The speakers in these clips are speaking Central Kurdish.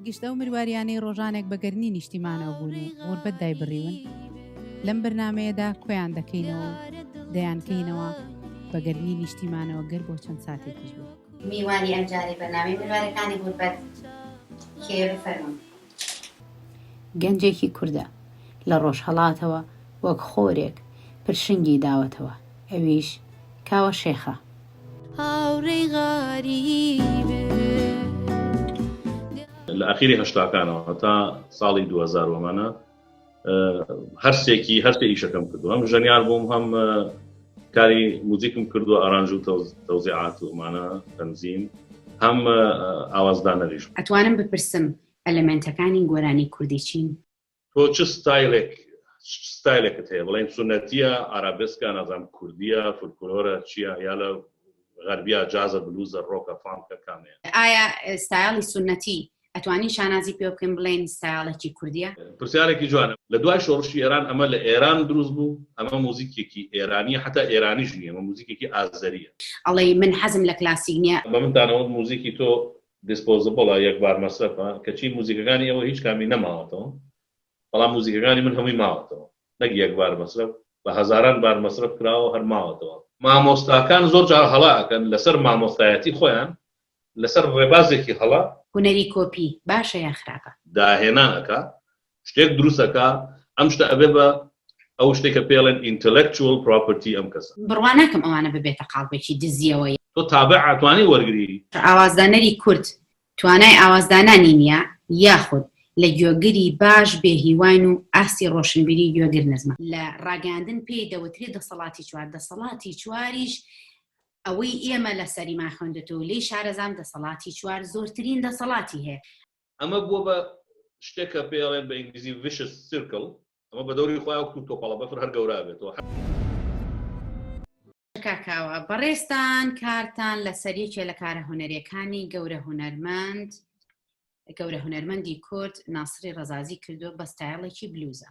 گشت ئەو مرواریانەی ڕۆژانێک بە گەرنی نیشتیمانەوە بوون و غوربەت دایبڕیون لەم بەرنمەیەدا کۆیان دەکەینەوە دەیانکەینەوە بە گەرنی نیشتیمانەوە گەر بۆ چەند ساتێکیش بوو میوانی ئەمجارەی بەرنامەی مرارەکانی غوربەت کێیە بفەرموون. گەنجێکی کوردە لە ڕۆژهەڵاتەوە وەک خۆرێک پرشنگی داوەتەوە ئەویش کاوە شێخە. هاوڕێی غەریبم. لە ئاخیری هەشتاکانەوە هەتا ساڵی دوو هەزار وەمانە. هەرسێکی هەرسێ ئیشەکەم کردو هەم ژەنیار بووم هەم کاری موزیکم کردو ئارانج و تەوزیعات و ئەمانە تەنزیم هەم ئاوازدانەریش ئەتوانم بپرسم ئەلمنتەکانی گۆرانی کوردی چین تۆ چ ستایلێک ستایلێکت هەیە بڵێن سونەتیە ئارابسکە نازام کوردیە فولکلۆرە چیە یا لە غەربیا جازە بلوزە ڕۆکە فانکە کامەیە ئایا ستایلی سونەتی ئەتوانین شانازی پێ بکەین بڵێین ستایڵێکی کوردیە؟ پرسیارێکی جوانە لە دوای شۆڕشی ئێران ئەمە لە ئێران دروست بوو ئەمە موزیکێکی ئێرانیە حەتا ئێرانیش نیە ئەمە موزیکێکی ئازەریە. ئەڵێی من حەزم لە کلاسیک نیە. بە منتان ئەوت موزیکی تۆ دیسپۆزبڵە یەک بار مەسرەفە کەچی موزیکەکانی ئێوە هیچ کامی نەماوەتەوە بەڵام موزیکەکانی من هەمووی ماوەتەوە نەک یەک بار مەسرەف بە هەزاران بار مەسرەف کراوە هەر ماوەتەوە. مامۆستاکان زۆر جار هەڵە ئەکەن لەسەر مامۆستایەتی خۆیان لەسەر ڕێبازێکی هەڵە. هونەری کۆپی باشە یان خراپە؟ داهێنان ئەکا شتێک دروست ئەکا ئەم شتە ئەبێ بە ئەو شتەی کە پێڵێن Intellectual Property ئەم کەسە. بڕوا ناکەم ئەوانە ببێتە قاڵبێکی دزیەوە یان. تۆ تابع ئەتوانی وەرگری؟ ئاوازدانەری کورد توانای ئاوازدانانی نیە یاخود لە گوێگری باش بێ هیواین و ئاستی ڕۆشنبیری گوێگر نزمە. لە ڕاگەیاندن پێی دەوترێ دەسەڵاتی چوار دەسەڵاتی چواریش ئەوەی ئێمە لەسەریمان خوێندوتە و لێی شارەزام دەسەڵاتی چوار زۆرترین دەسەڵاتی هەیە. ئەمە بووە بە شتێک کە پێی ئەڵێن بە ئینگلیزی Vicious Circle ئەمە بە دەوری خۆیان وەکوو تۆپەڵە بەفر هەر گەورە بێتەوە. کاک کاوە بەڕێزتان کارتان لەسەر یەکێ لە کارە هونەرێکانی گەورە هونەرمەند گەورە هونەرمەندی کورد ناسری ڕزازی کردووە بە ستایڵێکی بلوزە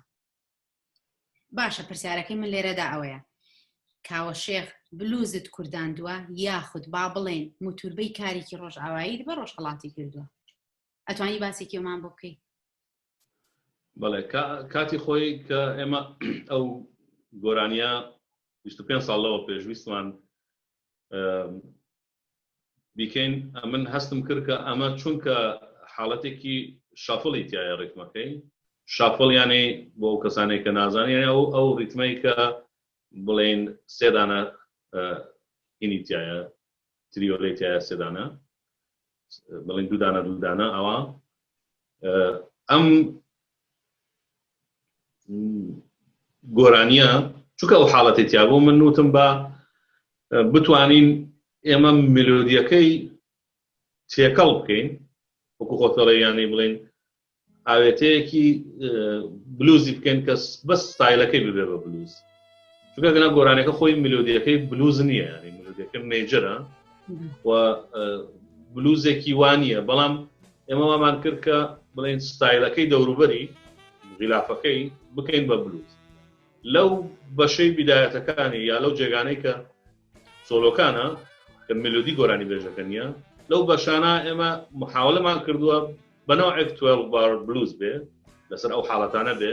باشە پرسیارەکەی من لێرەدا ئەوەیە کاوە شێخ بلوزت کورداندووە یاخود با بڵێن موتوربەی کارێکی ڕۆژئاوایی بە ڕۆژهڵاتی کردووە ئەتوانی باسێکی ئەومان بۆ بکەیت بەڵێ کاتی خۆی کە ئێمە ئەو گۆرانیە 25 ساڵەوە پێشویستمان بیکەین ئەمن هەستم کرد کە ئەمە چونکە حاڵەتێکی شافڵی تایە ڕیتمەکەی شافڵ یانەی بۆ ئەو کەسانێک کە نازانانی ئەو ئەو ریتمەی کە بڵێن سێدانە هینی تایە تریۆلەی تایە سێدانە بڵین دوودانە دوودانە ئەوە ئەم گۆرانیە چونکە ئەو حاڵەتی تیابوو من نوتم بە بتوانین ئێمە ملودیەکەی تێکەڵ بکەین وەکو خۆتەڵێ یانەی بڵین ئاوێتەیەکی بلوزی بکەین کەس بەس ستایلەکەی ببێ بە بلوز چونکە گەنا گۆرانەکە خۆی ملودیەکەی بلوز نییە ینی ملودەکە مێجرە و بلوزێکی وانە بەڵام ئێمە وامان کرد کە بڵێن ستایلەکەی دەوروبەری غیلافەکەی بکەین بە بلوز لەو بەشەی بیدایەتەکانی یا لەو جێگانەی کە سۆلۆکانە کە ملودی گۆرانی بێژەکە نیە لەو بەشانە ئێمە محاولەمان کردووە بەنەوە ئەکتوێل بار بلوز بێ لەسەر ئەو حاڵەتانە بێ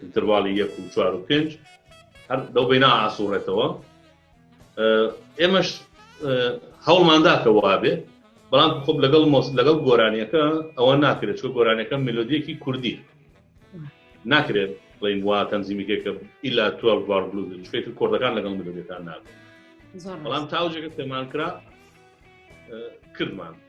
ئینتەرواڵی یەک و چوار و پێنج هەر لەو بەینا ئاسوڕێتەوە ئێمەش هەوڵماندا کە وابێ بەڵام خۆب لەگەڵ مۆس لەگەڵ گۆرانیەکە ئەوە ناکرێت چۆ گۆرانەکە ملودیەکی کوردی ناکرێت بڵین وا تەنزیمیکێکە ئیلا تو بار بلوز شێت کۆردەکان لەگەڵ ملودەکان نابێت بەڵام تاوجێکە پێمان کرا کردمان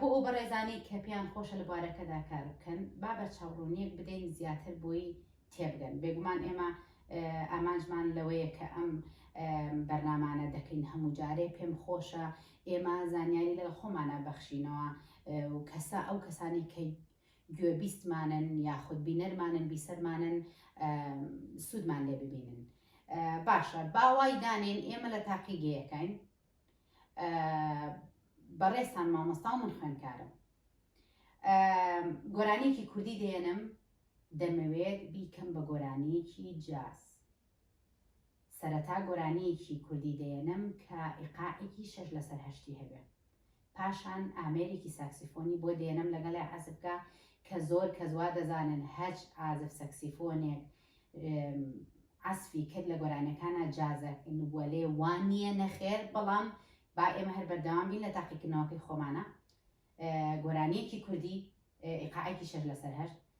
بۆ ئەو بەڕێزانەی کە پێیان خۆشە لە بوارەکەدا کار بکەن با بە چاوڕوونیەک بدەین زیاتر بۆی تێبگەن بێگومان ئێمە ئامانجمان لەوەیە کە ئەم بەرنامانە دەکەین هەموو جارێ پێم خۆشە ئێمە زانیاری لە خۆمانە بەخشینەوە و کەسا ئەو کەسانی کە گوێبیستمانن یاخود بینەرمانن بیسەرمانن سوودمان لێ ببینن باشە باوای دانێن ئێمە لە تاقی گەیەکەین بەڕێستان مامۆستا من خوێنکارم گۆرانیەکی کوردی دێنم دەمەوێت بیکەم بە گۆرانیەکی جاز سەرەتا گۆرانیەکی کوردی دەیەنم کە ئیقاعێکی شەش لەسەر هەشتی هەبێ پاشان ئامێرێکی ساکسیفۆنی بۆ دەیەنم لەگەڵێ عەزف کا کە زۆر کەس وا دەزانن هەچ عازف سەکسیفۆنێک عەسفی کرد لە گۆرانیەکانا جازە وەلێ وا نیە نەخێر بەڵام با ئێمە هەر بەردەوام بین لە تاقیکردنەوەکەی خۆمانە گۆرانیەکی کوردی ئیقاعێکی شەش لەسەر هەشت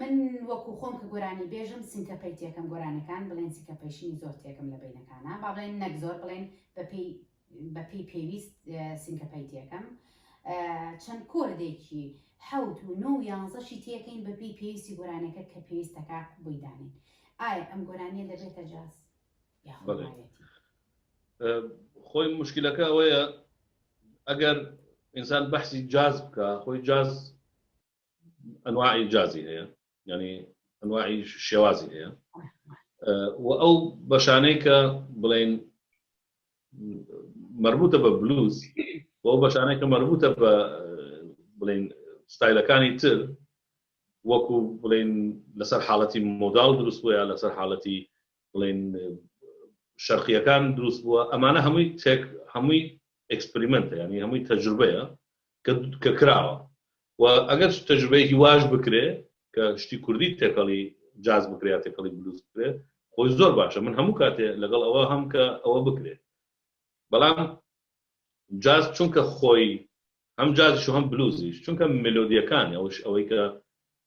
من وەکو خۆم کە گۆرانی بێژم سنکە پەی تێکەم گۆرانەکان بڵێن سکە پەیشنی زۆر تێکم لە بینەکانە با بڵێن نەک زۆر بڵێن بەپی بەپی پێویست سنکە پەی تێکەم چەند کۆردێکی حوت و نۆ یانزەشی تێکەین بەپی پێویستی گۆرانەکە کە پێویستەکە بۆیدانین ئایا ئەم گۆرانیە دەبێتە جاز یاخۆ خۆی مشکلەکە ئەوەیە ئەگەر ئینسان بەحسی جاز بکە خۆی جاز ئەنواعی جازی هەیە ینی ئەنواعی شێوازی هەیە و ئەو بەشانەی کە بڵێن مربوطە بە بلوز بۆ بەشانەی کە مربوطە بە بڵین ستایلەکانی تر وەکو بڵین لەسەر حاڵەتی مۆدال دروست بووە لەسەر حاڵەتی بڵێن شەرقیەکان دروست بووە ئەمانە هەمووی تێک هەمووی ئەکسپریمنتە ینی هەمووی تەجروبەیە کە کراوە و ئەگەر تەجروبەیەکی واش بکرێ کە شتی کوردی تێکەڵی جاز بکرێت تێکەڵی بلوز بکرێ خۆی زۆر باشە من هەموو کاتێ لەگەڵ ئەوە هەم کە ئەوە بکرێت بەڵام جاز چونکە خۆی هەم جازش هەم بلوزیش چونکە ملودیەکان ئەوش ئەوەی کە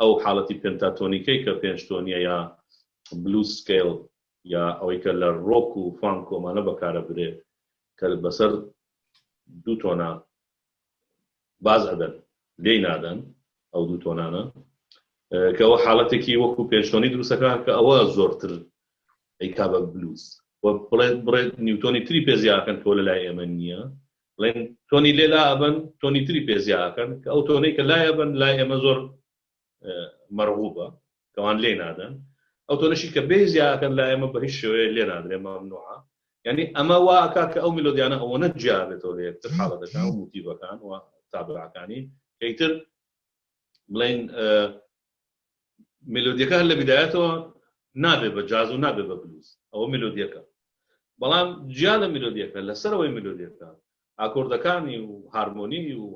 ئەو حاڵەتی پێنتاتۆنیکەی کە پێنج تۆنیە یا بلوز سکەیڵ یا ئەوەی کە لە ڕۆک و فانک و ئەمانە بەکارەبرێ کە بەسەر دوو تۆنا باز ئەدەن لێی نادەن ئەو دوو تۆنانە کە ئەوە حاڵەتێکی وەکو پێنج تۆنی دروستەکان کە ئەوە زۆرتر ئەیکا بە بلوز بڵێت بڕێت نیوتۆنی تری پێزیاکەن کۆ لە لای ئێمە نییە ڵێن تۆنی لێ لا ئەبەن تۆنی تری پێ زیا ئەکەن کە ئەو تۆنەی کە لای ئەبەن لای ئێمە زۆر مەرغوبە کەوان لێی نادەن ئەو تۆنەشی کە بێ زیا ئەکەن لای ئێمە بە هیچ شێوەیە لێ نادرێ مەمنوعە یعنی ئەمە وا ئەکا کە ئەو میلۆدیانە ئەوەنە جیا بێتەوە لە یەکتر حاڵەتەکان و موتیڤەکان و تابلۆعەکانی کە ئیتر بڵین ملودیەکە هەر لە بدایەتەوە نابێ بە جاز و نابێ بە بلوز ئەوە ملودیەکە بەڵام جیا لە ملودیەکە لەسەرەوەی ملودیەکە ئاکۆردەکانی و هارمۆنی و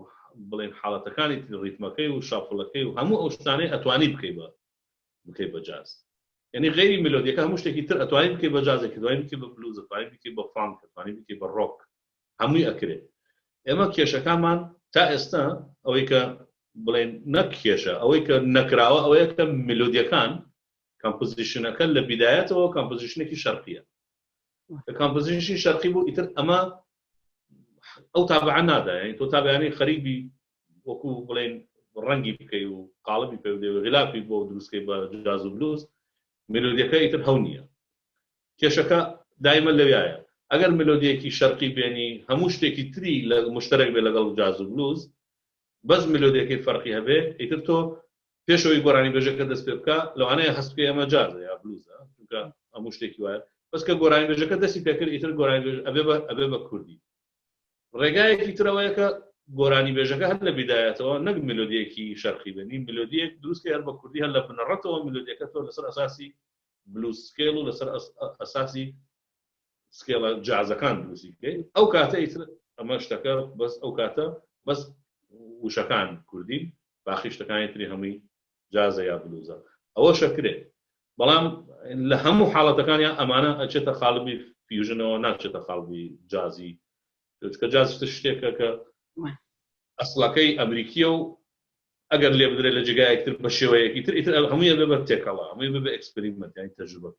بڵێن حاڵەتەکانی ریتمەکەی و شافڵەکەی و هەموو ئەو شتانەی ئەتوانی بکەی بە بکەی بە جاز یعنی غیری ملودیەکە هەموو شتێکی تر ئەتوانی بکەی بە جازێکی دوای بکەی بە بلوزە توانی بکەی بە فانکە توانی بکەی بە ڕۆک هەمووی ئەکرێ ئێمە کێشەکانمان تا ئێستا ئەوەی کە بڵێن نەک کێشە ئەوەی کە نەکراوە ئەوەیە کە ملودیەکان کامپۆزیشنەکە لە بیدایەتەوە کامپۆزیشنێکی شەرقیە کە کامپۆزیشنی شەرقی بوو ئیتر ئەمە ئەو تابعە نادا یعنی تۆ تابیانی خەریبی وەکو بڵێن ڕەنگی بکەی و قاڵبی پێ غلافی بۆ دروستکەی بە جاز و بلوز ملودیەکە ئیتر هەو نییە کێشەکە دایمە لەویایە ئەگەر ملۆدیەکی شەرقی بێنی هەموو شتێکی تری لە مشتەرەک بێ لەگەڵ جاز و بلوز بەس ملۆدیەکەی فەرقی هەبێ ئیتر تۆ پێش ئەوەی گۆرانی بێژەکە دەست پێ بکا لەوانەیە هەست بکەی ئەمە جازە یا بلوزە چونکە هەموو شتێکی وایە بەس کە گۆرانی بێژەکە دەستی پێ کرد ئیتر گۆرانی بێژ ئەبێ بە ئەبێ بە کوردی ڕێگایەکی ترەوەیە کە گۆرانی بێژەکە هەر لە بیدایەتەوە نەک ملۆدیەکی شەرقی بێنی ملۆدیەک دروستکە هەر بە کوردی هەر لە بنەڕەتەوە ملۆدیەکە تۆ لەسەر ئەساسی بلوز سکێڵ و لەسەر ئەساسی سکێڵە جازەکان دروستی بکەین ئەو کاتە ئیتر ئەمە شتەکە بەس ئەو کاتە بەس وشەکان کوردی باقی شتەکانی تری هەمووی جازە یا بلوزە ئەوە شەکرێت بەڵام لە هەموو حاڵەتەکانیان ئەمانە ئەچێتە خاڵبی فیوژنەوە ناچێتە خاڵبی جازی چونکە جاز شتێکە کە ئەسڵەکەی ئەمریکیە و ئەگەر لێ بدرێت لە جێگایەک تر بە شێوەیەکی تر ئیتر هەموویە بێ بە تێکەڵە هەمووی بە ئەکسپریمەت یانی تەجروبە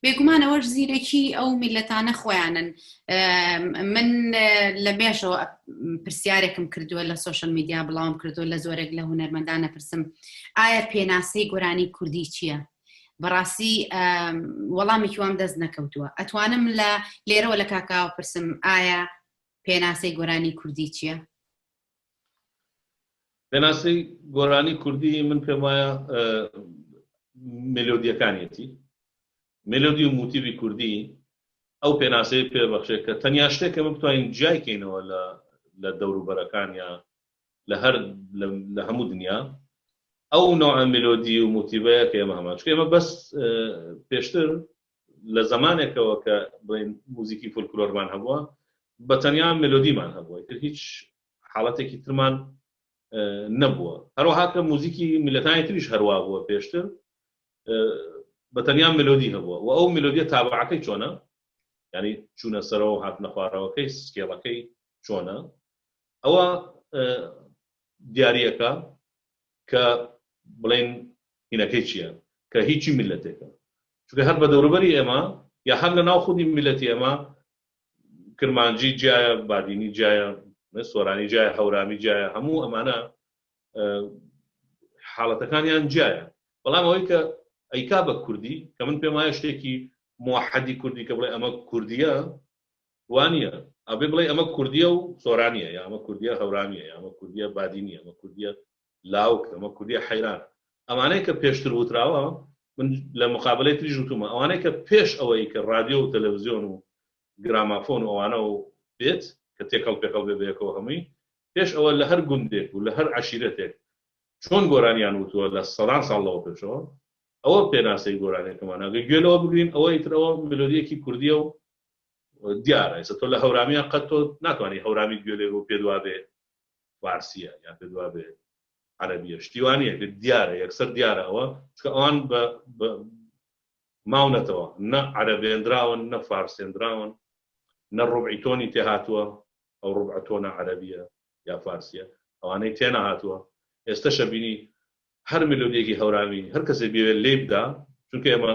بێگومانەوەش زیرەکی ئەو میلەتانە خۆیانن من لە مێشەوە پرسیارێکم کردووە لە سوۆشل میدیا بڵاوم کردو لە زۆرێک لە هوەرمەندانە پرسم ئایا پێناسەی گۆرانی کوردی چییە؟ بەڕاستی وەڵامێکی وام دەست نەکەوتووە ئەتوانم لە لێرەوە لە کاکاوە پرسم ئایا پێناسەی گۆرانی کوردی چییە؟ پێناسی گۆرانی کوردی من پێم وایە ملۆدیەکانیەتی ملۆدی و موتیبی کوردی ئەو پێناسەی پێبەخشێت کە تەنیا شتێکە من بتوانین جیایکەینەوە لە لە دەوروبەرەکان یا لە هەر لە هەموو دنیا ئەو نوع ملۆدی و موتیڤەیە کە ئێمە هەمان چکە ئێمە بەس پێشتر لە زمانێکەوە کە بڵین موزیکی فولکلۆرمان هەبووە بە تەنیا ملۆدیمان هەبووە تر هیچ حاڵەتێکی ترمان نەبووە هەروەهاکە موزیکی میلەتانی تریش هەروە بووە پێشتر بە تەنیا ملۆدی هەبووە و ئەو ملۆدیە تابعەکەی چۆنە ینی چوونە سەرەوە هاتنە خوارەوەکەی سکێڵەکەی چۆنە ئەوە دیاریەکە کە بڵێن هینەکەی چییە کە هیچی میلەتێکە چونکە هەر بە دەوروبەری ئێمە یا هەر لە ناو خودی میلەتی ئێمە کرمانجی جایە بادینی جایە سۆرانی جایە هەورامی جایە هەموو ئەمانە حاڵەتەکانیان جایە بەڵام ئەوەی کە ئەیکا بە کوردی کە من پێم وایە شتێکی موحدی کوردی کە بڵێ ئەمە کوردیە وانیە ئەبێ بڵێی ئەمە کوردیە و سۆرانیە یا ئەمە کوردیە هەورانیە یا ئەمە کوردیە بادینیە ئەمە کوردیە لاوک ئەمە کوردیە حەیرانە ئەمانەی کە پێشتر وتراوە من لە مقابەلەی تریش وتومە ئەوانەی کە پێش ئەوەی کە ڕادیۆ و تەلەڤزیۆن و گرامافۆن و ئەوانە و بێت کە تێکەڵ پێکەڵ بێ بەیەکەوە هەمووی پێش ئەوە لە هەر گوندێک و لە هەر عەشیرەتێک چۆن گۆرانیان وتووە لە سەدان ساڵ لەوە پێشەوە ئەوە پێناسەی گۆرانێکەمان ئەگە گوێ لەوە بگرین ئەوە ئیترەوە ملۆدیەکی کوردیە و دیارە ئێستا تۆ لە هەورامیان قەت تۆ ناتوانانی هەورامی گوێ لێ بۆ پێت وابێ فارسیە یان پێت وابێ عەرەبیە شتیوانە پێ دیارە یەکسەر دیارە ئەوە چکە ئەوان بە ماونەتەوە نە عەرەبێنراون نە فارسێنراون نە ڕوبعی تۆنی تێ هاتووە ئەو ڕوبع تۆنە عەرەبیە یا فارسیە ئەوانەی تێنە هاتووە ئێستا شەبینی هەر ملودێکی هەورامی هەر کەسێ بێوێت لێ بدا چونکە ئێمە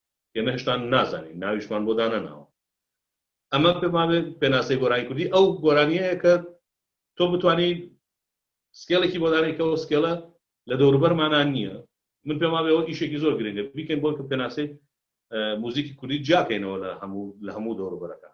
ئێمە هێشتا نازانین ناویشمان بۆ دانەناوە ئەمە پێمان بێت پێناسەی گۆرانی کوردی ئەو گۆرانیەیە کە تۆ بتانی سکێڵێکی بۆ دانێکەوە سکێڵە لە دەوروبەرمانان نییە من پێما بێەوە ئیشێکی زۆر گرنگە بیکەین بۆ کە پێناسەی موزیکی کوردی جیاکەینەوە لە هەموو لە هەموو دەوروبەرەکان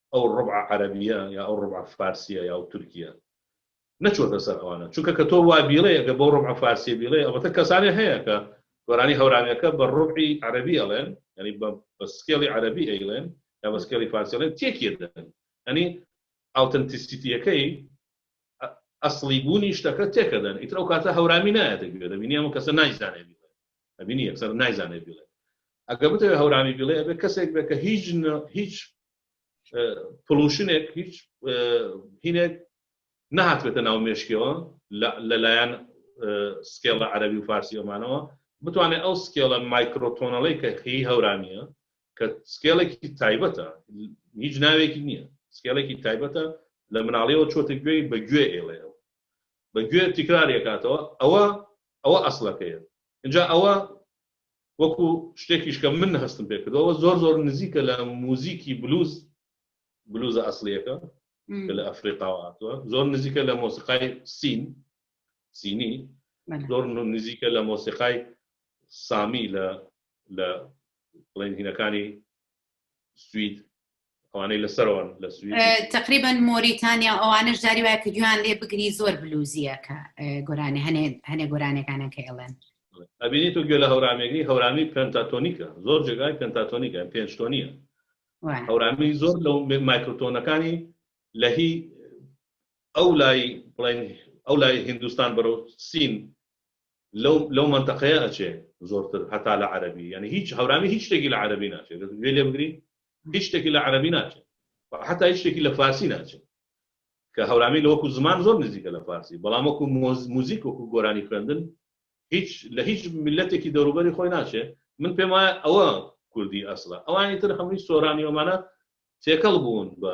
ئەو ڕبعە عەرەبیە یا ئەو ڕبعە فارسیە یا ئەو تورکیە نەچۆتە سەر ئەوانە چونکە کە تۆ وا بیڵێ ئەگەر بەو ڕبعە فارسیە بیڵێ ئەڵبەتە کەسانێ هەیە کە گۆرانی هەورامیەکە بە ڕبعی عەرەبی ئەڵێن یانی بە بە سکێڵی عەرەبی ئەیڵێن یا بە سکێڵی فارسی ئەڵێن تێکیە دەن یانی ئاوتەنتیسیتیەکەی ئەسڵی بوونی شتەکە تێکەدەن ئیتر ئەو کاتە هەورامی نایەتە گوێ دەبینی ئەم کەسە نایزانێ ئەبینی یەکسەر نایزانێت بیڵێت ئەگە بتەوێت هەورامی بیڵێ ئەبێ کەسێک بێت کە هیچ هیچ پڵوشنێک هیچ هینێک نهاتبێتە ناو مێشکەوە لەلایەن سکێڵە عەربی و فارسی ئەمانەوە بتوانێت ئەو سکێڵە مایکرۆتۆنەڵی کە خی هەورامیە کە سکێڵێکی تایبەتە هیچ ناوێکی نییە سکێڵێکی تایبەتە لە مناڵیەوە چۆتە گوێی بە گوێ ئێڵێەوە بە گوێ تیکرارێکاتەوە ئەوە ئەوە ئەسڵەکەیە ئینجا ئەوە وەکو شتێکیش کە من هەستم پێ کردوە ئەوە زۆر زۆر نزیکە لە موزیکی بلوز بلوزە ئەسڵیەکە کە لە ئەفریقاوە هاتووە زۆر نزیکە لە مۆسیقای سین سینی زۆر نزیکە لە مۆسیقای سامی لە لە بڵێن هینەکانی سوید ئەوانەی لەسەرەوەن لە سوید تقریبا مۆریتانیا ئەوانش جاری وایە کە گویان لێ بگری زۆر بلوزیەکە گۆرانێ هەنێ هەنێ گۆرانەکانە کە ئێڵێن ئەبینی تۆ گوێ لە هەورامێگری هەورامی پنتاتۆنیکە زۆر جێگای پنتاتۆنیکە پێنج تۆنیە هەورامی زۆر لەو مایکرۆتۆنەکانی لە هی ئەو لای بڵێن ئەو لای هندستان بەرەو سین لەو لەو مەنتەقەیە ئەچێ زۆرتر هەتا لە عەرەبی یانی هیچ هەورامی هیچ شتێکی لە عەرەبی ناچێ گەر گوێ لێ بگری هیچ شتێکی لە عەرەبی ناچێ حەتا هیچ شتێکی لە فارسی ناچێ کە هەورامی لە وەکو زمان زۆر نزیکە لە فارسی بەڵام وەکو مۆز موزیک وەکو گۆرانی خوێندن هیچ لە هیچ ملەتێکی دەوروبەری خۆی ناچێ من پێم وایە ئەوە کوردی ئەسڵە ئەوانی تر هەمووی سۆرانی ئەمانە تێکەڵ بوون بە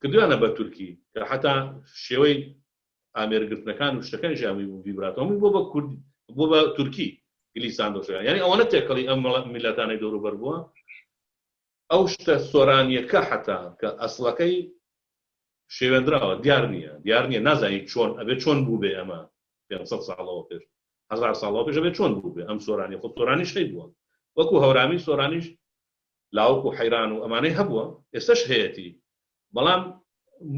کردویانە بە تورکی کە حەتا شێوەی ئامێر گرتنەکان و شتەکانیش هەمووی بوو ڤیبراتۆ هەمووی بۆ بە کورد بۆ بە تورکی گلیسان دۆشەکان یعنی ئەوەنە تێکەڵی ئەم مەڵە میللەتانەی دەور و بەر بووە ئەو شتە سۆرانیەکە حەتا کە ئەسڵەکەی شێوێنراوە دیار نییە دیار نییە نازانی چۆن ئەبێ چۆن بوو بێ ئەمە 500 ساڵەوە پێش هزار ساڵەوە پێش ئەبێ چۆن بوو بێ ئەم سۆرانی خۆ سۆرانیش هەی بووە وەکو هەورامی سۆرانیش لاوک و حەیران و ئەمانەی هەبووە ئێستەش هەیەتی بەڵام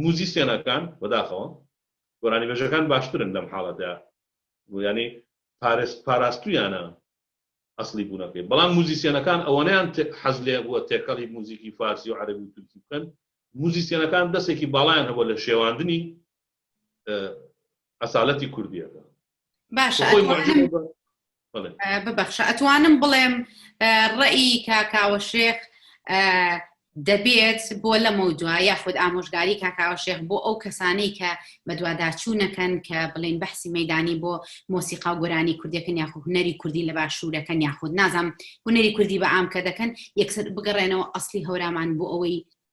موزیسیەنەکان بەداخەوە گۆرانیبێژەکان باشترن لەم حاڵەتە یانی پارێز پاراستویانە ئەسڵی بوونەکەی بەڵام موزیسیەنەکان ئەوەنیان حەز لێ بووە تێکەڵی موزیکی فارسی و عەربی و تورکی بکەن موزیسیەنەکان دەستێکی باڵایان هەبووە لە شێواندنی ئەسالەتی کوردیەکە باشە ببەخشە ئەتوانم بڵێم ڕێی کاکاوە شێخ دەبێت بۆ لەمە دوا یاخود ئامۆژگاری کاکاوە شێخ بۆ ئەو کەسانی کە بەدوواداچوونەکەن کە بڵین بەحسی مەدانی بۆ مۆسیقا و گۆرانی کوردەکەن یاخو هوەری کوردی لە باشوورەکەن یاخود نازانم هوەری کوردی بە ئام کە دەکەن یەکسەر بگەڕێنەوە ئەسلی هەورامان بۆ ئەوەی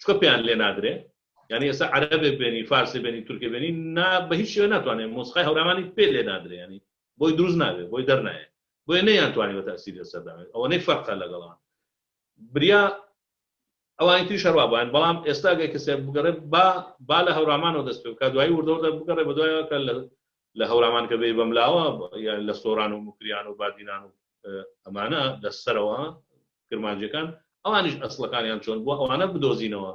چکە پێیان لێ نادرێ یعنی ئێستا عەرەبێ بێنی فارسی بێنی تورکێ بێنی نا بە هیچ شوێ ناتوانێت مۆسقای هەورامانی پێ لێ نادرێ ینی بۆی دروست نابێت بۆی دەرنایە بۆی نەیان توانانی بە تاسیری سەرداێت ئەوەنەی فەرقە لەگەڵان بریا ئەوانی تری شەروا بەن بەڵام ئێستا گەی کەسێ بگەڕێ با با لە هەورامانەوە دەست پێ بکە دوای وردەوردە بگەڕێ بە دوایەکە لە لە هەورامان کە بێ بەملاوە لە سۆران و مکریان و بادینان و ئەمانە لە سەرەوە کرمانجەکان ئەوانیش ئەسلەکانیان چۆن بووە ئەوانە بدۆزینەوە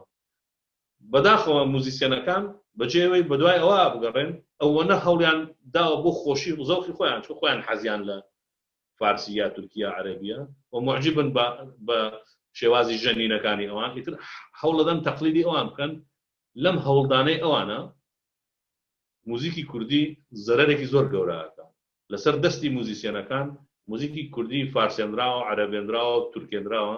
بەداخەوە موزیسیەنەکان بەجێەوەی بەدوای ئەوە بگەڕێن ئەوەنە هەڵیان داوە بۆ خۆشی و زەوخی خۆیان چۆ خۆیان حەزیان لە فارسی یا تورکیا عەربیە و معجبن بە شێوازی ژەنینەکانی ئەوان ئیتر هەوڵەدەن تەقلیدی ئەوان بکەن لەم هەوڵدانەی ئەوانە موزیکی کوردی زەرەرێکی زۆر گەوراکە لەسەر دەستی موزیسیەنەکان موزیکی کوردی فارسێنراوە عەرەبێنراوە تورکێنراوە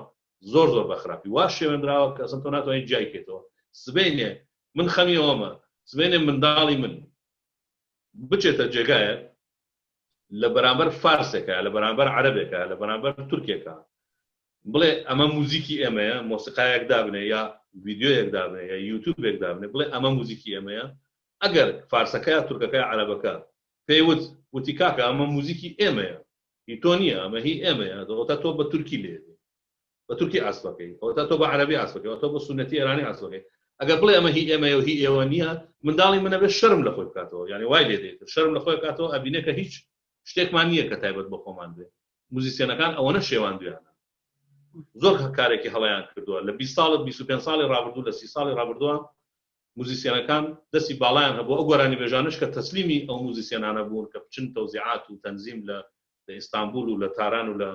زۆر زۆر بەخراپی وا شێوێنراوە کە ئەسڵەن تۆ ناتوانی جیای کەیتەوە سبەینێ من خەمی ئەوەمە سبەینێ منداڵی من بچێتە جێگایەک لە بەرامبەر فارسێکە لە بەرامبەر عەرەبێکە لە بەرامبەر تورکێکە بڵێ ئەمە موزیکی ئێمەیە مۆسیقایەک دابنێ یا ڤیددیویەک دابنێ یا یوتوبێک دابنێ بڵێ ئەمە موزیکی ئێمەیە ئەگەر فارسەکە یا تورکەکە یا عەرەبەکە پێی وت، وتی کاکە ئەمە موزیکی ئێمەیە، هی تۆ نییە، ئەمە هی ئێمەیە، ئەوەتا تۆ بە تورکی لێدێی، بە تورکی عەزف ئەکەی، ئەوەتا تۆ بە عەرەبی عەزف ئەکەی، ئەوەتا تۆ بە سوننەتی ئێرانی عەزف ئەکەی، ئەگەر بڵێی ئەمە هی ئێمەیە و هی ئێوە نییە، منداڵی من ئەبێت شەرم لە خۆی بکاتەوە، یانی وای لێ دێتن، شەرم لە خۆی ئەکاتەوە، ئەبینێت کە هیچ شتێکمان نییە کە تایبەت بە خۆمان بێت، موزیسیەنەکان ئەوەنە شێواندویانە، زۆر کارێکی هەڵەیان کردووە، لە بیست ساڵ، بیست و پێنج ساڵی ڕابردوو، لە سی ساڵی ڕابردووە موزیسیەنەکان دەستی باڵایان هەبوو ئەو گۆرانیبێژانەش کە تەسلیمی ئەو موزیسیەنانە بوون کە بچن تەوزیعات و تەنزیم لە لە ئیستانبوڵ و لە تاران و لە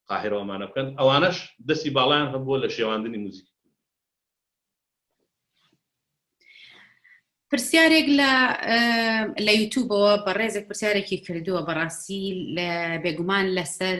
قاهیرە و ئەمانە بکەن ئەوانەش دەستی باڵایان هەبووە لە شێواندنی موزیکی پرسیارێک لە لە یوتوبەوە بە ڕێزێک پرسیارێکی کردووە بەڕاستی لە بێگومان لەسەر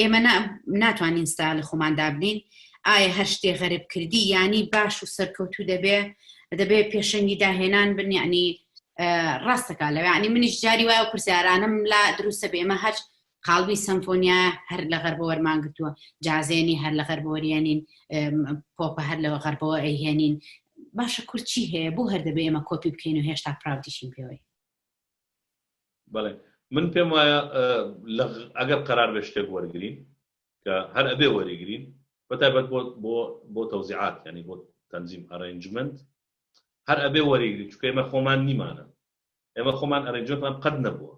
ئێمە ناتوانین ستا لە خۆمان دابنین ئایا هەر شتێ غەرب کردی ینی باش و سەرکەوتو دەبێ دەبێ پێشەنگی داهێنان بنیانی ڕاستەکە لە ینی منیش جاری وایە و پرسیارانم لا دروستە بێمە هەر قالبی سمفۆنیا هەر لە غەربە وەرمان گرتووە جازێنی هەر لە غەربۆریێنین پۆپە هەر لەوە غەربەوە ئەیهێنین باشە کورچی هەیە بۆ هەر دەبێ ئێمە کۆپی بکەین و هێشتا پراودیشین پێوەی بەڵێ من پێم وایە ئەگەر قەرار بێ شتێک وەرگین کە هەر ئەبێ وەریگرین بەتابەت بۆ بۆ تەوزیعات ینی بۆ تەنجیم ئەرنجمنت هەر ئەبێ وەریگری چکە ئمە خۆمان نیمانە ئێمە خۆمان ئەرنجۆتمان قەت نەبووە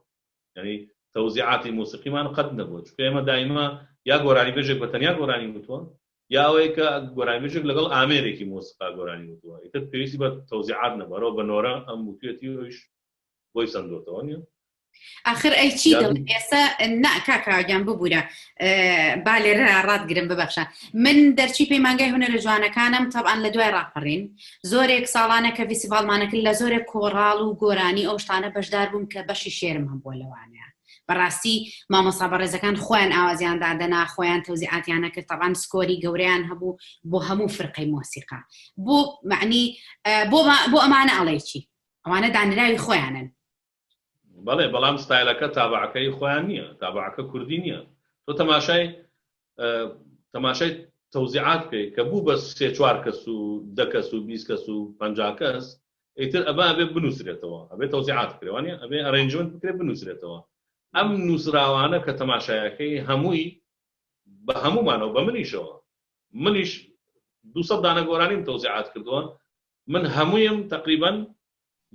ینی تەوزیعاتی موسیقیمان قەت نەبووە چکە ئێمە دایمە یا گۆرانی بێژێک بە تەنیا گۆرانی وتووە یا ئەوەی کە گۆرانیبێژێک لەگەڵ ئامێرێکی مۆسیقا گۆرانی وتووە، ئیتر پێویستی بە تەوزیعات نەبوو، هەروا بە نۆرە ئەم وتوویەتی و ئەویش بۆی سەندۆتەوە، نییە؟ ئاخر ئەی چی دڵ ئێستا نا کاکاگیان ببوورە با لێرە ڕاتگرم ببەخشە من دەرچی پەیمانگای هوەرە جوانەکانم تەبان لە دوای ڕاپەڕین زۆرێک ساڵانە کە ویسیڤالمانەکرد لە زۆرێک کۆڕاڵ و گۆرانی ئەو شتانە بەشدار بووم کە بەشی شێرم هەم بۆ لەوانەیە بەڕاستی مامۆسا بەڕێزەکان خۆیان ئاوازیان دادەنا خۆیان تەوزیعاتیان نەکرد تەڕان سکۆری گەوریان هەبوو بۆ هەموو فرقەی مۆسیقا بۆ معنی بۆ ئەمانە ئەڵێکی ئەوانە دانراوی خۆیانن بەڵێ بەڵام ستایلەکە تابعەکەی خۆیان نییە تابعەکە کوردی نییە تۆ تەماشای تەماشای تەوزیعات بکەیت کە بوو بە سێ چوار کەس و دە کەس و بیست کەس و پەنجا کەس ئیتر ئەبا ئەبێ بنووسرێتەوە ئەبێ تەوزیعات بکرێت وانە ئەبێ ئەرێنجمنت بکرێ بنووسرێتەوە ئەم نووسراوانە کە تەماشایەکەی هەمووی بە هەمومانەوە بە منیشەوە منیش دو دانە گۆرانیم تەوزیعات کردووە من هەموویم تقریبان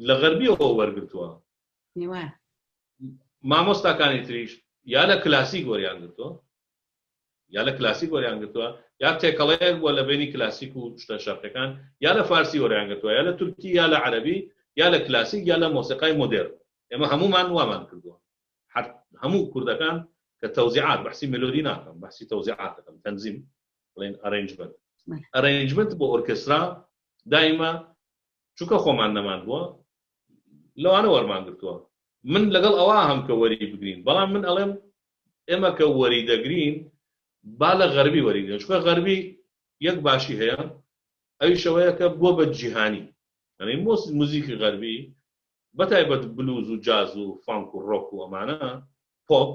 لە غەربیەوە وەرگتووە نێوان. مامۆستاکانی تریش یا لە کلاسیک وەریان گرتووە یا لە کلاسیک وەریان گرتووە یا تێکەڵەیەک بووە لە بینی کلاسیک و شتە شەرقەکان یا لە فارسی وەریان گرتووە یا لە تورکی یا لە عەرەبی یا لە کلاسیک یا لە مۆسیقای مۆدێر ئێمە هەمومان وامان کردووە هەر هەموو کوردەکان کە تەوزیعات بەحسی ملۆدی ناکەم بەحسی تەوزیعات دەکەم تەنزیم بڵێن ئەرنجمنت ئەرنجمنت بۆ ئۆرکسترا دایمە چونکە خۆمان نەمان بووە لەوانە وەرمان گرتووە من لەگەڵ ئەوە هەم کە وەری بگرین بەڵام من ئەڵێم ئێمە کە وەری دەگرین با لە غەربی وەریگرن چکە غەربی یەک باشی هەیە ئەوی شەوەیە کە بۆ بە جیهانی ئەنی مۆس موزیکی غەربی بەتایبەت بلوز و جاز و فانک و ڕۆک و ئەمانە پۆپ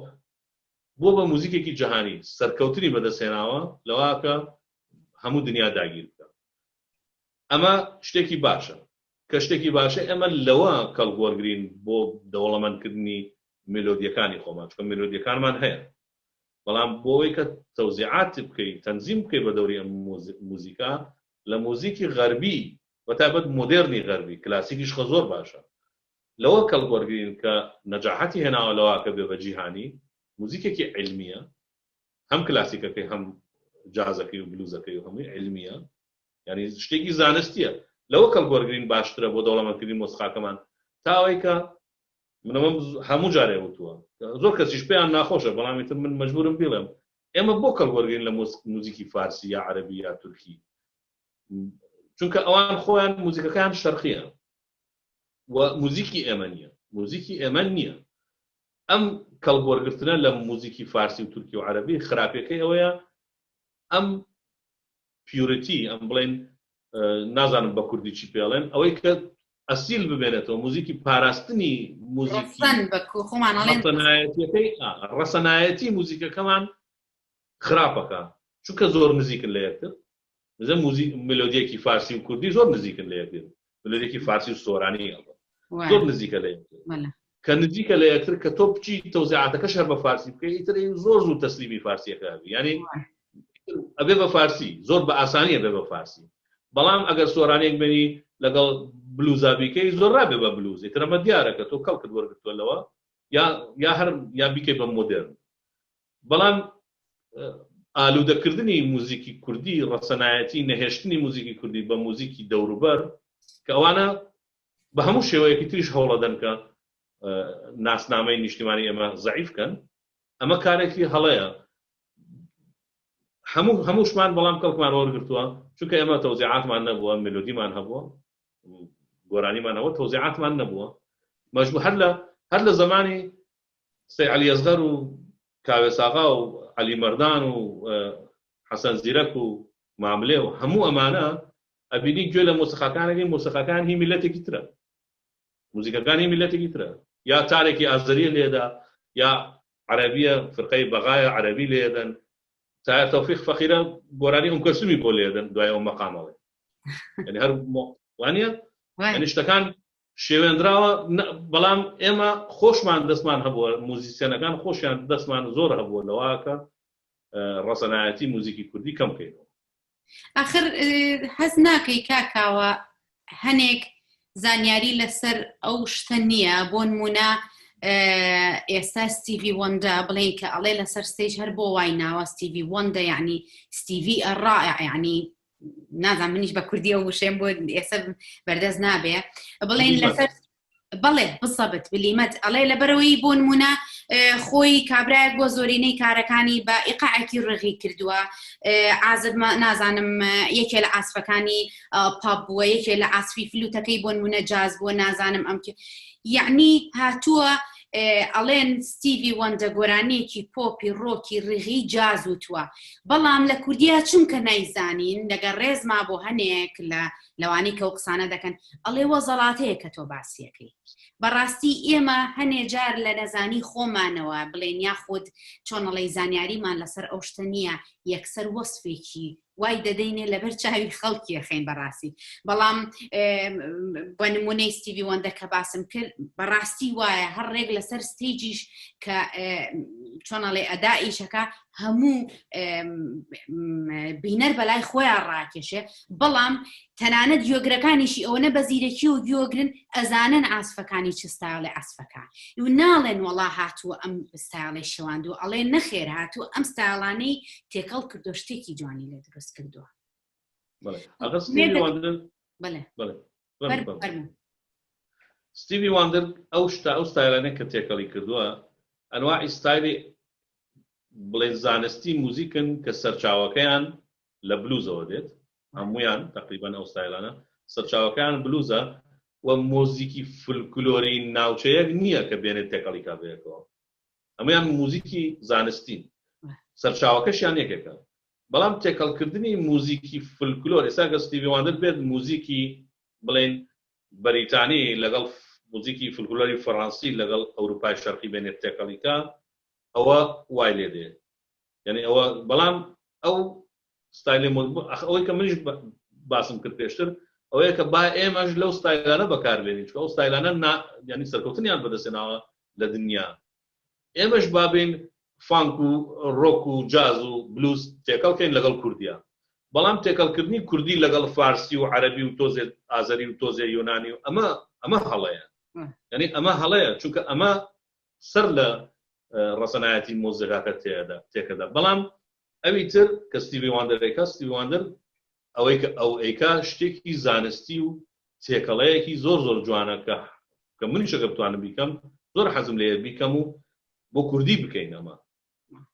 بۆ بە موزیکێکی جیهانی سەرکەوتنی بەدەستێناوە لەواکە هەموو دنیا داگیر بکە ئەمە شتێکی باشە کە شتێکی باشە ئێمە لەوە کەڵک وەرگرین بۆ دەوڵەمەند کردنی میلۆدیەکانی خۆمان چونکە میلۆدیەکانمان هەیە بەڵام بۆ ئەوەی کە تەوزیعاتی بکەی تەنزیم بکەی بە دەوری ئەم موزیکا لە موزیکی غەربی بە تایبەت مۆدێرنی غەربی کلاسیکیش خە زۆر باشە لەوە کەڵک وەرگرین کە نەجاحەتی هێناوە لەوە کە بێ بە جیهانی موزیکێکی علمیە هەم کلاسیکەکەی هەم جازەکەی و بلوزەکەی و هەمووی علمیە یانی شتێکی زانستیە لەوە کەڵک وەرگرین باشترە بۆ دەوڵەمەند کردنی مۆسخاکەمان تا ئەوەی کە من ئەمەم هەموو جارێ وتووە زۆر کەسیش پێیان ناخۆشە بەڵام ئیتر من مەجبورم بیڵێم ئێمە بۆ کەڵک وەرگین لە موزیکی فارسی یا عەربی یا تورکی چونکە ئەوان خۆیان موزیکەکان شەرقیە و موزیکی ئێمە نییە موزیکی ئێمە نییە ئەم کەڵبوەرگرتنە لە موزیکی فارسی و تورکی و عەربی خراپەکەی ئەوەیە ئەم پیورتی ئەم بڵێن نازانم بە کوردی چی پێڵێن ئەوەی کە ئەسیل بمێنێتەوە موزیکی پاراستنی موزیکی ڕەسەنایەتی موزیکەکەمان خراپەکە چونکە زۆر نزیکن لە یەکتر بزە موزیک ملۆدیەکی فارسی و کوردی زۆر نزیکن لە یەکتر دولەرێکی فارسی و سۆرانی ئەڵبەت زۆر نزیکە لە کە نزیکە لە یەکتر کە تۆ بچی تەوزیعاتەکە شەر بە فارسی بکەی تر زۆر زوو تەسلیمی فارسیەکە ینی ئەبێ بە فارسی زۆر بە ئاسانیە بێ بە فارسی بەڵام ئەگەر سۆرانێک بێنی لەگەڵ بلوزابیکەی زۆر ڕابێ بە بلوزی ترەمە دیارەکە تۆ کەڵکت وەرگتووە لەوە یا یا هەر یا بیکەی بە مۆدرن بەڵام ئالوودەکردنی موزیکی کوردی ڕەسەنایەتی نەهێشتنی موزیکی کوردی بە موزیکی دەوروبەر کە ئەوانە بە هەموو شێوەیەکی تریش هەوڵەدەن کە ناسنامەی نیشتیمانی ئێمە زعیفکەن ئەمە کارێکی هەڵەیە هەموو هەمووشمان بەڵام کەڵکمان وەرگتووە چونکە ئێمە تەوزیعاتمان نەبووە ملودیمان هەبووە گۆرانیمانەوە تەوزیعاتمان نەبووە مەجبوو هەر لە هەر لە زمانی سەی عەلی ئەسغەر و کاوێس ئاغا و عەلی مەردان و حەسەن زیرەک و ماملێ و هەموو ئەمانە ئەبینی گوێ لە مۆسیقاکان ئەگرن مۆسیقاکان هی میللەتێکی ترە موزیکەکان هی میللەتێکی ترە یا تارێکی ئازەریە لێدا یا عەرەبیە فرقەی بەغایە عەرەبی لێدەن تا تەوفیق فەقیرە گۆرانی ئەم کەسومی بۆ لێدەن دوای ئەو مەقامەوەی یعنی هەر وانە یعنی شتەکان شێوێندراوە نا بەڵام ئێمە خۆشمان دەستمان هەبووە موزیسیەنەکان خۆشیان دەستمان زۆر هەبووە لەوە کە ڕەسەنایەتی موزیکی کوردی کەم کەینەوە. ئاخر حەز ناکەی کاکاوە هەنێک زانیاری لەسەر ئەو شتە نییە بۆ نمونە ئێستا ستیڤی وەندە بڵێن کە ئەڵێ لەسەر ستیج هەر بۆ وای ناوە ستیڤی وەندە یعنی ستیڤی ئەڕائع یعنی نازان منیش بە کوردی ئەو وشێن بۆ ئێستا بەردەست نابێ بڵێن لەسەر بەڵێ بسەبت بلیمەت ئەڵێ لەبەرەوەی بۆ نمونە خۆی کابراەک بۆ زۆرینەی کارەکانی بە ئیقاعکی ڕغی کردووە ئازت نازانم یەکێ لە ئاسفەکانی پاپ بووە یەکێ لە ئاسفی فلوتەکەی بۆ نمونە جاز بۆ نازانم ئەم یعنی هاتووە ئەڵێن ستیڤی وەندە گۆرانیەکی پۆپی ڕۆکی ڕیغی جاز وتووە بەڵام لە کوردیا چونکە نایزانین لەگە ڕێزما بۆ هەنێک لە لەوانی کە و قسانە دەکەن ئەڵێ وە زەڵاتەیە کە تۆ باسیەکەی بەڕاستی ئێمە هەنێ جار لە نەزانی خۆمانەوە بڵێن یا خود چۆنەڵی زانیاریمان لەسەر ئەو شتە نییە یەکسەر وەصفێکی وای دەدەینێ لەبەر چاوی خەڵکی یەخین بەڕاستی بەڵام بە نمونەی ستیوی وەندە کە باسم کرد بەڕاستی وایە هەر ڕێک لەسەر ستیجیش کە چۆنەڵێ ئەدا ئیشەکە هەموو بینەر بەلای خۆیان ڕاکێشێ بەڵام تەنانەت یۆگرەکانیشی ئەوە نە بە زیرەکی و گیۆگرن ئەزانن ئاسفەکانی چ ستایڵی ئاسفەکە و ناڵێن وەڵا هاتووە ئەم ستایڵی شەواندو ئەڵێ نەخێر هاتوو ئەم ستایڵانەی تێکەڵ کردو شتێکی جوانی لێ دروست کردووە ستیوی واندر ئەو شتا ئەو ستایلانە کە تێکەڵی کردووە ئەنوا ئیستایلی بڵێن زانستی موزیکن کە سەرچاوەکەیان لە بلوزەوە دێت هەمویان تقریبان ئەو ستایلانە سەرچاوەکان بلوزە و مۆزیکی فلکلۆری ناوچەیەک نییە کە بێنێت تێکەڵی کابێکەوە هەموویان موزیکی زانستین سەرچاوەکەشیان یەکێکە بەڵام تێکەڵکردنی موزیکی فلکلۆر ئێستا گەر ستیڤی واندەر بێت موزیکی بڵێن بەریتانی لەگەڵ موزیکی فلکلۆری فەڕەنسی لەگەڵ ئەوروپای شەرقی بێنێت تێکەڵیکە ئەوە وای لێ دێ یعنی ئەوە بەڵام ئەو ستایلی مۆد ئەخ ئەوەی کە منیش باسم کرد پێشتر ئەوەیە کە با ئێمەش لەو ستایلانە بەکار بێنین چکە ئەو ستایلانە نا یعنی سەرکەوتنیان بەدەستێناوە لە دنیا ئێمەش بابین فانک و ڕۆک و جاز و بلوز تێکەڵکەین لەگەڵ کوردیا بەڵام تێکەڵکردنی کوردی لەگەڵ فارسی و عەربی و تۆزێت ئازەری و تۆزێ یۆنانی و ئەمە ئەمە هەڵەیە یعنی ئەمە هەڵەیە چونکە ئەمە سەر لە ڕەسەنایەتی مۆزەکەکە تێدا تێکەدا بەڵام ئەوی تر کە ستیڤی واندەر ئەیکا، ستیڤی واندەر ئەوەی کە ئەو ئەیکا شتێکی زانستی و تێکەڵەیەکی زۆر زۆر جوانە کە کە منیش ئەگەر بتوانم بیکەم زۆر حەزم لێیە بیکەم و بۆ کوردی بکەین ئەمە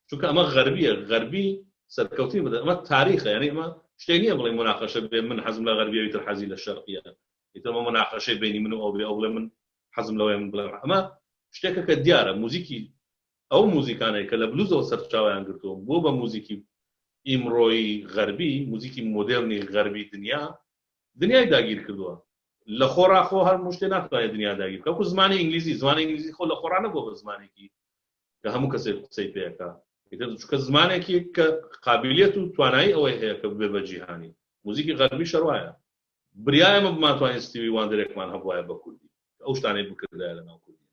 چونکە ئەمە غەربیە غەربی سەرکەوتنی بدەن ئەمە تاریخە یعنی ئەمە شتێ نییە بڵێ مناقەشە بێ من حەزم لە غەربیەوی تر حەزی لە شەرقیە ئیترمە مناقەشەی بینی من و ئەو بێ ئەو بڵێ من حەزم لەوەیە من بڵێ ئەمە شتێکە کە دیارە موزیکی ئەو موزیکانەی کە لە بلوزەوە سەرچاوەیان گرتووە بۆ بە موزیکی ئیمڕۆیی غەربی، موزیکی مۆدێرنی غەربی دنیا، دنیای داگیر کردووە. لە خۆڕا خۆ هەموو شتێ ناتوانێ دنیا داگیر بکا. وەکوو زمانی ئینگلیزی، زمانی ئینگلیزی خۆ لە خۆڕا نەبووە بە زمانێکی کە هەموو کەسێک قسەی پێ ئەکا. ئیتر چونکە زمانێکی کە قابیلیەت و توانایی ئەوەی هەیە کە ببێ بە جیهانی. موزیکی غەربیش هەر وایە. بریا ئێمە بمانتوانین ستیوی واندەرێکمان هەبوایە بە کوردی کە ئەو شتانەی بکردایە لە ناو کوردییە.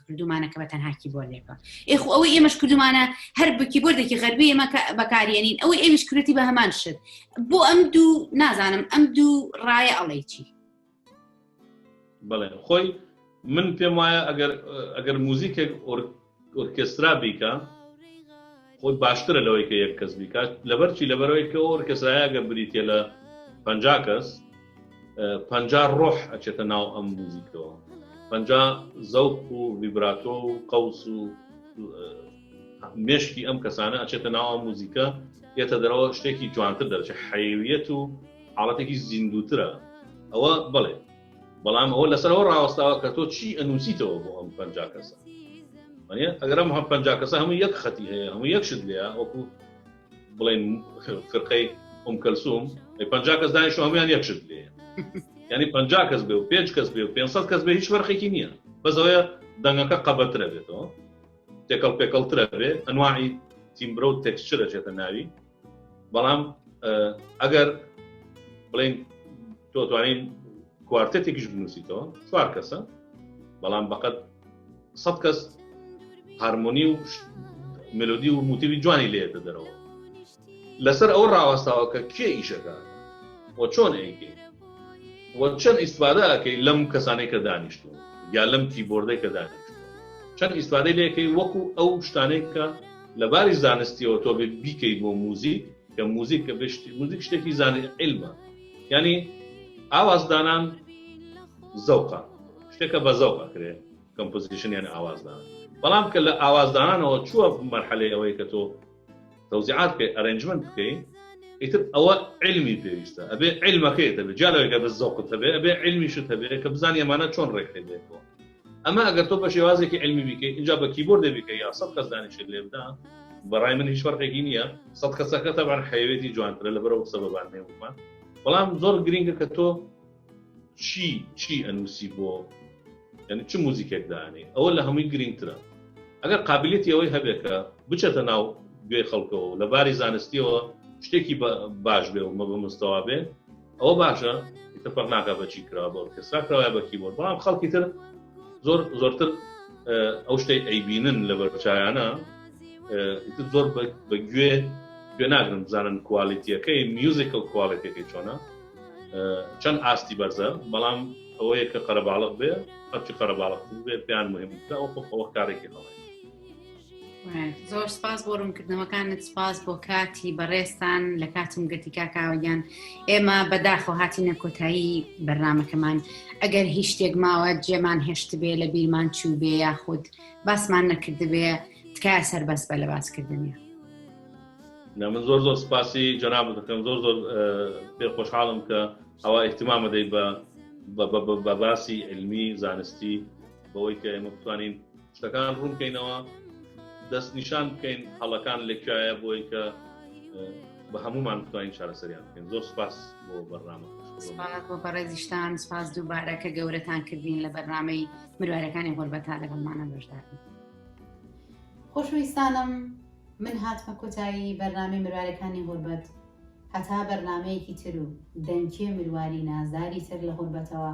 کردومانە کە بە تەنها کیبۆردێکە ئێ خۆ ئەوەی ئێمەش کردومانە هەر بە کیبۆردێکی غەربی ئێمە بەکارێنین ئەوەی ئەویش کردی بە هەمان شت بۆ ئەم دوو نازانم ئەم دوو ڕایە ئەڵێی چی بڵێ خۆی من پێم وایە ئەگەر ئەگەر موزیکێک ئۆرکسترا بیکە خۆی باشترە لەوەی کە یەک کەس بیکات لەبەرچی لەبەرەوەی کە ئۆرکسترایەگە بریتە لە پ کەس پەنجا ڕۆح ئەچێتە ناو ئەم موزیکەوە پەنجا زەوق و ویبراتۆ و قەوس و مشکی ئەم کەسانە ئەچێتە ناوە موزیکە یێتە دەرەوە شتێکی جوانتر دەرچە حەیویەت و حاڵەتێکی زیندوترە ئەوە بڵێ بەڵام ئەوە لەسەرەوە ڕاوەستاوە کە تۆ چی ئەنووسیتەوە بۆ ئەم پنج کەسە ئەگەرم هەم پنج کەسە هەموو یەک خەتی هەیە هەموو یەکشت لێە وەکو بڵێن فرقەی ئۆم کەلسوم پ کەس دانیش هەمویان یەکشت لێ ینی پ کەس بێ و پێ کەس بێ و 500 کەس بێ هیچ فەرقێکی نییە بەزەوەە دەنگەکە قەبەترە بێتەوە تێکەڵ پێکەڵترە بێ ئەنواعی تیمبرە و تێکسچرە چێتە ناوی بەڵام ئەگەر بڵین تۆ توانین کوارتێکیش بنووسیتەوە چوار کەسە بەڵام بەقەت سەد کەس هارمۆنی و ملودی و موتیوی جوانی لێ دەدەرەوە لەسەر ئەو ڕاوەستاوە کە کێ ئیشەکە و چۆن ئەیکەی و چەند ئیسفادە ئەەکەی لەم کەسانی کە دانیشتون یا لەم کیبۆردەی کە دانیشت چەند ئیسفادەی لەکەی وەکو ئەو شتانێک کە لەباری زانستیەوە تۆ بیکەی بۆ موزیک کە موزیک کە بشتی موزیک شتێکی زانانی علمە ینی ئاوازدانان زەوقە شتێکە بە زەوقە کرێ کەمپۆزیشنیان ئاوازدان بەڵام کە لە ئاوازدانانەوە چووە مەرحەلەی ئەوەی کە تۆ تەوزیعات بکەی ئەرنجمنت بکەین ئیتر ئەوە علمی پێویستە ئەبێ علمەکەی دەبێت جالەوەگە بە زەوقت هەبێ ئەبێ علمیشت هەبێت کە بزانانی ئەمانە چۆن ڕێکخێنێتەوە ئەمە ئەگەر تۆ بە شێوازێکی علمی بیکەی اینجا بە کیبۆر دەبیکە یا سە کەس دانیشێت لێ بدا بەڕای من هیچ فەرقێکی نییە سە کەسەکە تەبان حەیەوێتی جوانترە لە بەرەو قسە بەبان نێومان بەڵام زۆر گرنگە کە تۆ چی چی ئەنووسی بۆ یعنی چ موزیکێک دانێ ئەوە لە هەمووی گرنگترە ئەگەر قابلێتی ئەوەی هەبێکە بچێتە ناو گوێ خەڵکەوە لە باری زانستیەوە شتێکی باش بێ و مە بە مستەوا بێ ئەوە باشە ئیتر فەرق ناکات بە چی کراوە بە ئۆرکێسترا کراوە بە کیبۆرد بەڵام خەڵکی تر زۆر زۆرتر ئەو شتەی ئەیبینن لە بەرچایانە ئیتر زۆر بە گوێ گوێ ناگرم بزانن کوالیتیەکەی میوزیکل کوالیتەکەی چۆنە چەند ئاستی بەرزە بەڵام ئەوەیە کە قەرەباڵق بێ هەرچی قەرەباڵق بێ پێیان مهمترا ئەو خۆ ئەوە کارێکی هەڵێ زۆر سپاس بۆ ڕوونکردنەوەکانت سپاس بۆ کاتی بەڕێستان لە کاتم گەتی کاکاوەگیان ئێمە بەداخۆ هاتیینە کۆتایی بەرنمەکەمان ئەگەر هیچ شتێک ماوە جێمان هێشت بێ لە بیرمان چوو بێ یاخود باسمان نەکردبێ تکایە سەر بەس بە لە باسکردنی من زۆر زۆر سپاسی جەناب دەکەم زۆر زۆر پێ خۆشحاڵم کە ئەوە احتمامە دەی بە بە باسی علمی زانستی بەوەی کە ئێمە بتوانین شتەکان ڕوون بکەینەوە دەست نیشان بکەین هەڵەکان لەکایە بۆی کە بە هەمومان بتوانین چارەسەریان بکەین زۆر سپاس بۆ بەرنامە بۆ بەڕێزیشتان سپاس دووبارە کە گەورەتان کردین لە بەرنمەی مروارەکانی غۆربەتا لەگەڵمانە بەشدار خۆشویستانم من هاتمە کۆتایی بەرنامی مروارەکانی غوربەت هەتا بەرنمەیەکی تر و دەنکێ مرواری نازداری تر لە غوربەتەوە